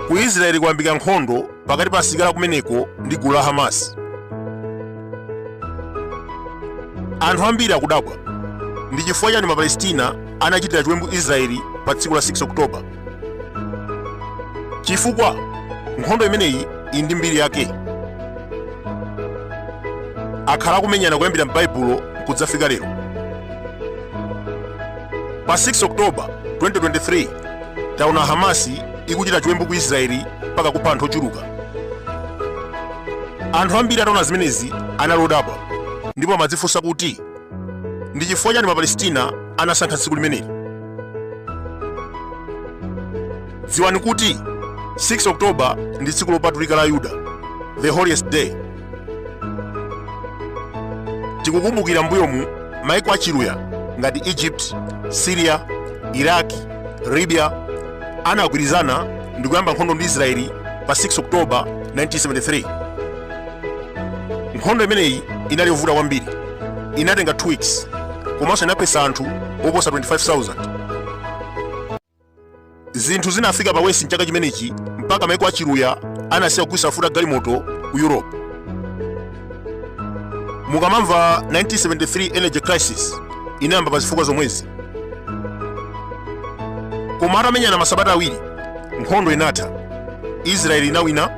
ku israeli kwayambika nkhondo pakati pa asilikali kumeneko ndi gulu la hamas anthu ambiri akudabwa ndi chifukwa chani mapalestina anachitira chiwembu israeli pa tsiku la 6 oktoba chifukwa nkhondo imeneyi ili ndi mbiri yake akhala akumenyana kuyambira m'baibulo kudzafika lero pa 6 oktoba 2023 taona hamasi ikuchita chiwembu ku israeli mpaka kupha anthu ochuluka anthu ambiri ataona zimenezi anali odabwa ndipo amadzifunsa kuti ndi chifukwa chani mapalestina anasankha tsiku limeneli dziwani kuti 6 oktoba ndi tsiku lopatulika la ayuda the holiest day tikakumbukira mbuyomu maiko achiluya ngati egypt syria iraq libya anagwirizana ndi kuyamba nkhondo ndi israeli pa 6 oktoba 1973 nkhondo imeneyi inali yovuta kwambiri inatenga 2 weeks komanso inaphetsa anthu oposa 25000 zinthu zinafika pa wesi mchaka chimenechi mpaka maiko achiluya anasiya kugulitsa mafuta a galimoto ku europe mukamamva 1973 energy crisis inayamba pa zifukwa zomwezi koma atamenyana masabata awiri nkhondo inatha israeli inawina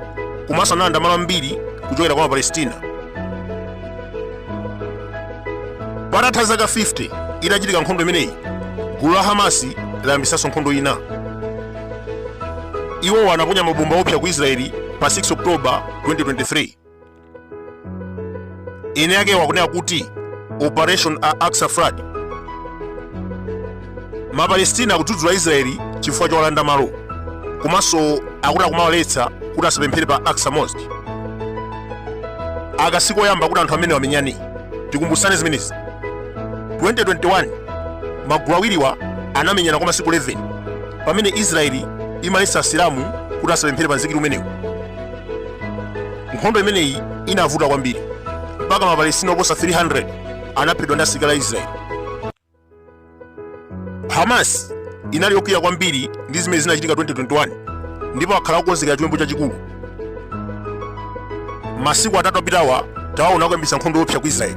komanso analanda malo ambiri kuchokera kwa mapalestina patatha zaka 50 itachitika nkhondo imeneyi gulu la hamasi layambisanso nkhondo ina iwowa anaponya mabomba opsa ku israeli pa 6 oktoba 2023 eni akewo akunena kuti operation al aqsa flood mapalestina akudzudzula israeli chifukwa chowalanda malo komanso akuti akumawaletsa kuti asapemphere pa aqsa mosque aka sikoyamba kuti anthu amenewa amenyane tikumbusane zimenezi 2021 magulu awiriwa anamenyana kwa masiku 11 pamene israeli imaletsa asilamu kuti asapemphere pa mzikiti umenewu nkhondo imeneyi inavuta kwambiri mpaka mapalestina oposa 300 anaphedwa ndi asilikali a israeli hamas inali yokwiya kwambiri ndi zimene zinachitika 2021 ndipo akhala akukonzekera chiwembu chachikulu masiku atatu apitawa tawaona akuyambitsa nkhondo yoopsa ku israeli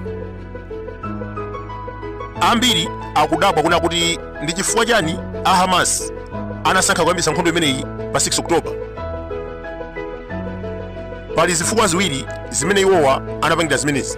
ambiri akudabwa kunena kuti ndi chifukwa chani a hamas anasankha kuyambitsa nkhondo imeneyi pa 6 oktoba pali zifukwa ziwiri zimene iwowa anapangira zimenezi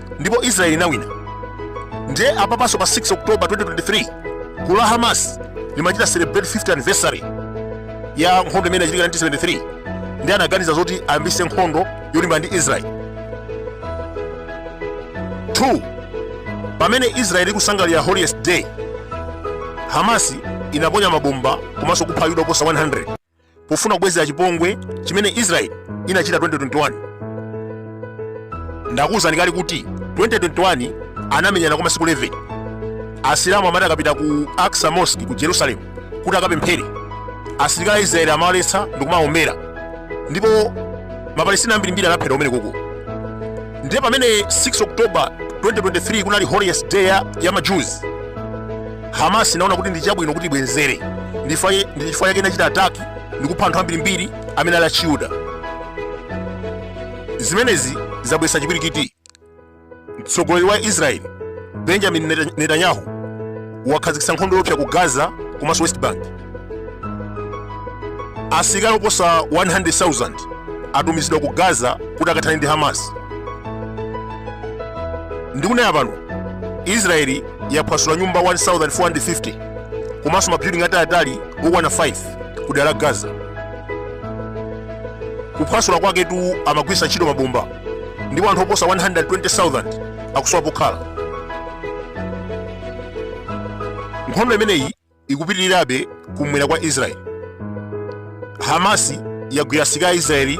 ndipo israeli inawina ndiye apapanso pa 6 oktoba 2023 gulu la hamas limachita celebrate 50th anniversary ya nkhondo imene inachitika 1973 ndiye anaganiza zoti ayambise nkhondo yolimbana ndi israeli 2 pamene israeli ikusangalira holiest day hamasi inaponya mabomba komanso kupha ayuda oposa 100 pofuna kubwezera chipongwe chimene israeli inachita 2021 ndakuwuzani kale kuti 2021 anamenyana kwa masiku 11 asilamu amati akapita ku aqsa mosque ku jerusalem kuti akapemphere asilikali a israeli amawaletsa ndikumawombera ndipo mapalestina ambirimbiri anaphedwa kumene koko ndiye pamene 6 oktoba 2023 kunali holiest day ya majews Hamas inaona kuti ndi chabwino kuti ibwenzere, ndi chifukwa yake inachita ataki ndi kupha anthu ambirimbiri amene ali achiyuda. Zimenezi zabweretsa chipwirikiti. Mtsogoleri wa Israeli Benjamin Netanyahu wakhazikitsa nkhondo yoopsa ku Gaza komanso West Bank. asilikali oposa 100,000 atumizidwa ku gaza kuti akathane ndi hamas ndikunena pano israeli yaphwasula nyumba 1450 komanso mabuilding ataliatali okwana 5 ku dera la gaza kuphwasula kwaketu amagwiritsa ntchito mabomba ndipo anthu oposa 120,000 akusowa pokhala nkhondo imeneyi ikupitirirabe kumwera kwa israeli hamasi yagwira asilikali a israeli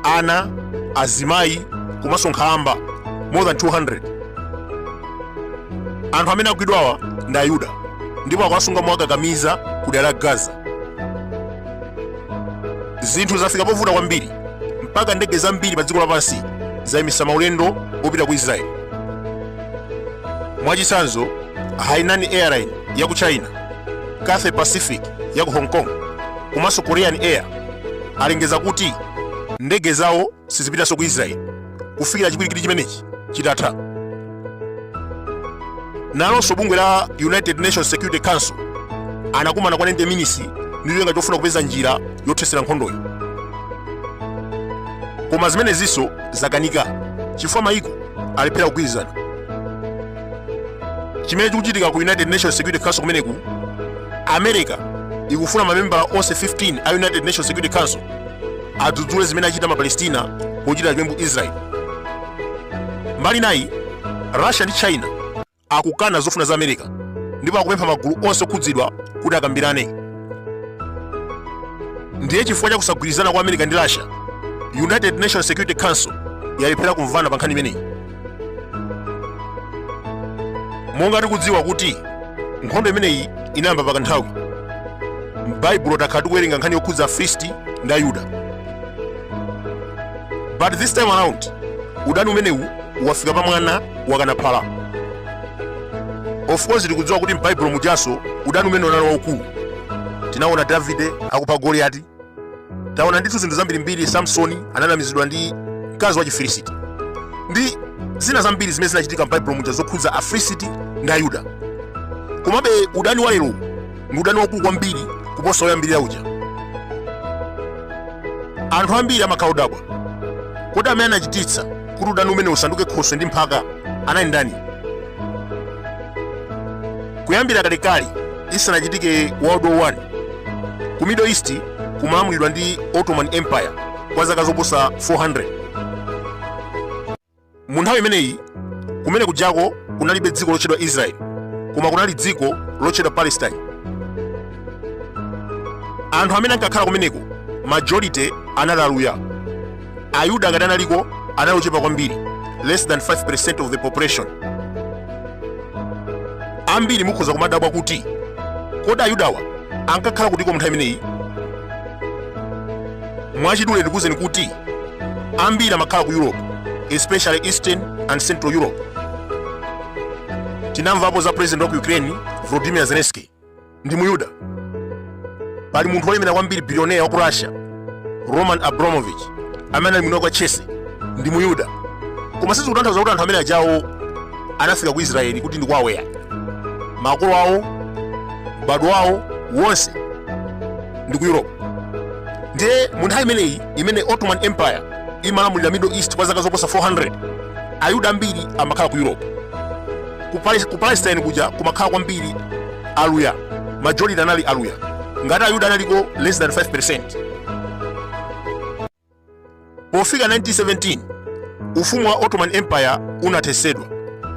ana azimayi komanso nkhalamba more than 200 anthu amene agwidwawa ndi ayuda ndipo akuwasunga mowakakamiza ku dera la gaza zinthu zafika povuta kwambiri mpaka ndege zambiri pa dziko lapansi zayimitsa maulendo opita ku israeli Mwachitsanzo, Hainan Airline ya ku China, Cathay Pacific ya ku Hong Kong komanso Korean Air alengeza kuti ndege zawo sizipitanso ku Israeli kufikira chipwirikiti chimenechi chitatha. Nalonso bungwe la United Nations Security Council anakumana kwa 90 minutes ndi cholinga chofuna kupeza njira yothetsera nkhondoyo. Koma zimenezinso zakanika chifukwa mayiko alephera kugwirizana chimene chikuchitika ku united nations security council kumeneku america ikufuna mamembala onse 15 a united nations security council adzudzule zimene achita mapalestina pochitira chiwembu israel mbali nayi russia ndi china akukana zofuna za America ndipo akupempha magulu onse okhudzidwa kuti akambirane. Ndiye chifukwa cha kusagwirizana kwa America ndi Russia, United Nations Security Council yalephera kumvana pa nkhani imeneyi. Monga tikudziwa kuti nkhondo imeneyi inayamba pa kanthawi, m'Baibulo takhala tikuwerenga nkhani yokhudza Afilisti ndi Ayuda. but this time around udani umenewu wafika pa mwana wakana phala of course tikudziwa kuti m'baibulo mujanso udani umenewu unali waukulu tinaona davide akupha goliyati taona ndithu zinthu zambirimbiri samsoni ananamizidwa ndi mkazi wa chifilisiti ndi zina zambiri zimene zinachitika m'baibulo muja zokhudza afilisiti ndi ayuda komabe udani wa lero ndi udani waukulu kwambiri kuposa woyambirira uja anthu ambiri amakhala odabwa kodi amene anachititsa kuti udani umenewu usanduke khoswe ndi mphaka anali ndani kuyambira kalekale isanachitike world war 1 ku middle east kumalamulidwa ndi ottoman empire kwa zaka zoposa 400 Mu nthawi imeneyi kumene kujako kunalibe dziko lotchedwa Israeli, koma kunali dziko lotchedwa Palestine. Anthu amene ankakhala kumeneko majority anali Aluya. Ayuda ngati analiko anali ochepa kwambiri, less than 5% of the population. Ambiri mukhoza kumadabwa kuti kodi Ayudawa ankakhala kutiko mu nthawi imeneyi? Mwachidule ndikuwuzeni kuti ambiri amakhala ku europe especially eastern and central europe tinamvapo za president wa ku ukraine volodymyr zelensky ndi muyuda pali munthu wolemera kwambiri bilioneya wa ku russia roman abramovich amene anali mwini wa chelsea ndi muyuda koma sizikutanthauza kuti anthu amene ajawo anafika ku israeli kuti ndi kwawo eya makolo awo m'bado wawo wonse ndi ku europe ndiye mu nthawi imeneyi imene ottoman empire imalamulira middle east kwa zaka zoposa 400 ayuda ambiri amakhala ku europe ku palestine kuja kumakhala kwambiri aluya majority anali aluya ngati ayuda analiko less than 5% pofika 1917 ufumu wa ottoman empire unathesedwa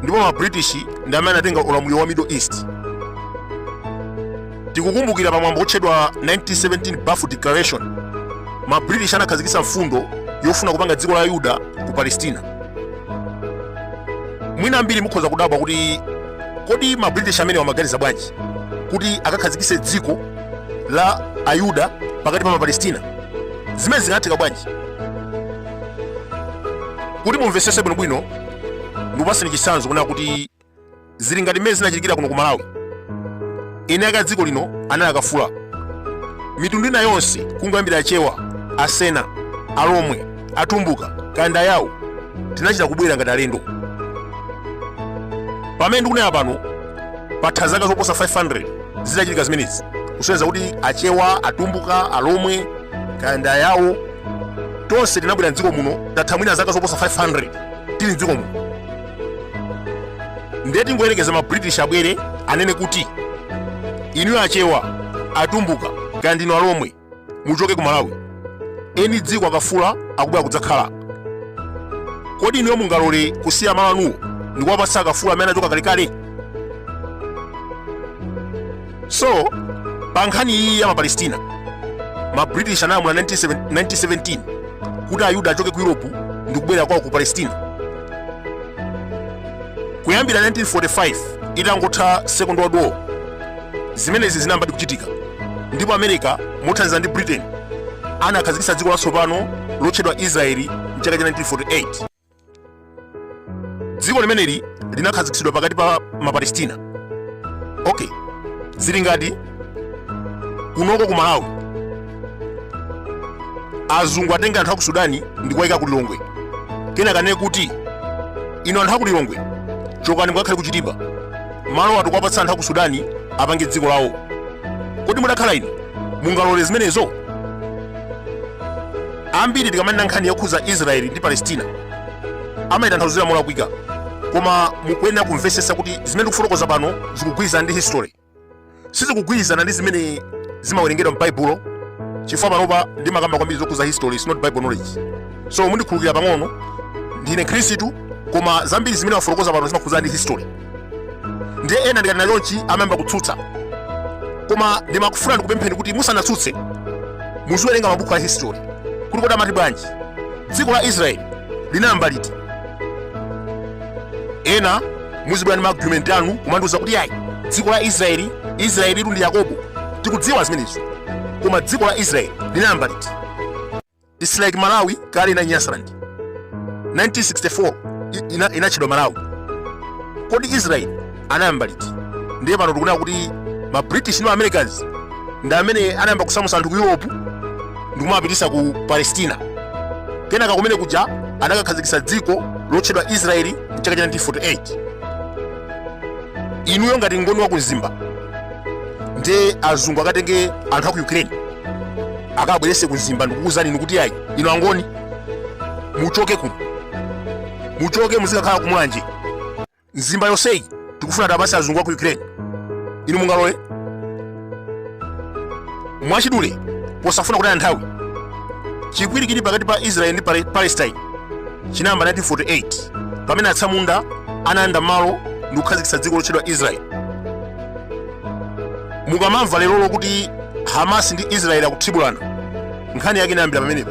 ndipo ma british ndi amene anatenga ulamuliro wa middle east tikukumbukira pa mwambo wotchedwa 1917 Balfour Declaration ma British anakhazikitsa mfundo yofuna kupanga dziko la Ayuda ku Palestina. Mwina ambiri mukhoza kudabwa kuti kodi ma British amenewa amaganiza bwanji kuti akakhazikitse dziko la Ayuda pakati pa Mapalestina? Zimenezi zingatheke bwanji? Kuti mumvetsetse bwinobwino ndikupatseni chitsanzo kunena kuti zili ngati mmene zinachitikira kuno ku malawi eni ake a dziko lino anali akafula mitundu ina yonse kungoyambira achewa asena alomwe atumbuka kaya ndi ayawo tinachita kubwera ngati alendo pamene ndikunena pano patha zaka zoposa 500 zitachitika zimenezi kusonyeza kuti achewa atumbuka alomwe kaya ndi ayawo tonse tinabwera mdziko muno tatha mwina zaka zoposa 500 tili mdziko muno ndiye tingoyerekeza ma british abwere anene kuti inuyo achewa atumbuka kaya ndinu alomwe muchoke ku malawi eni dziko akafula akubwera kudzakhala kodi inuyo mungalole kusiya malo anuwo ndikuwapatsa akafula amene anachoka kalekale so pa nkhani iyi ya mapalestina ma british analamula 1917 kuti ayuda achoke ku europe ndi kubwerera kwawo ku palestina kuyambira 1945 itangotha second world war zimenezi zinayambadi kuchitika ndipo america mothandizana ndi britain anakhazikitsa dziko latsopano lotchedwa israeli mchaka cha 1948 dziko limeneli linakhazikitsidwa pakati pa mapalestina okay zili ngati kunoko ku malawi azungu atenge anthu aku sudani ndi kuwayika ku lilongwe kenaka anene kuti inu anthu aku lilongwe chokani mukakhale ku chitipa malowa tukuwapatsa anthu aku sudani apange dziko lawo kodi mudakhala inu mungalole zimenezo Ambiri tikamanena nkhani yokhudza Israeli ndi Palestina amayitanthauzira molakwika, koma mukuyenera kumvetsetsa kuti zimene ndikufotokoza pano zikugwirizana ndi history, sizikugwirizana ndi zimene zimawerengedwa m'Baibulo chifukwa panopa ndimakamba kwambiri zokhudza history, it's not Bible knowledge. So mundikhululukira pang'ono, ndine Mkhristu koma zambiri zimene ndimafotokoza pano zimakhudzana ndi history. ndiye ena ndikanena chonchi amayamba kutsutsa koma ndimangofuna ndikupempheni kuti musanatsutse muziwerenga mabuku a history kuti kodi amati bwanji dziko la israeli linayamba liti ena muzibwera ndi maargument anu kumandiuza kuti ayi dziko la israeli israeli litu ndi yakobo tikudziwa zimenezo koma dziko la israeli linayamba liti It's like Malawi kale inali Nyasaland. 1964 inatchedwa Malawi. Kodi Israeli anayamba liti? Ndiye pano tikunena kuti ma British ndi Americans ndi amene anayamba kusamusa anthu ku Europe ndi kuwapititsa ku Palestina. Kenaka kumene kuja anakakhazikitsa dziko lotchedwa Israeli mchaka cha 1948. Inuyo ngati Mngoni wa ku Mzimba ndiye azungu akatenge anthu a ku Ukraine akabwerese ku mzimba ndikukuuzani inu kuti ayi inu angoni muchoke kuno muchoke muzikakhala ku mulanje mzimba yonseyi tikufuna tiwapatse azungu a ku ukraine inu mungalole mwachidule posafuna kutaya nthawi chipwirikiti cha pakati pa israeli ndi palestine chinayamba 1948 pamene atsamunda analanda malo ndi kukhazikitsa dziko lotchedwa israeli mukamamva leroli kuti hamasi ndi israeli akuthibulana, nkhani yake inayambira pamenepa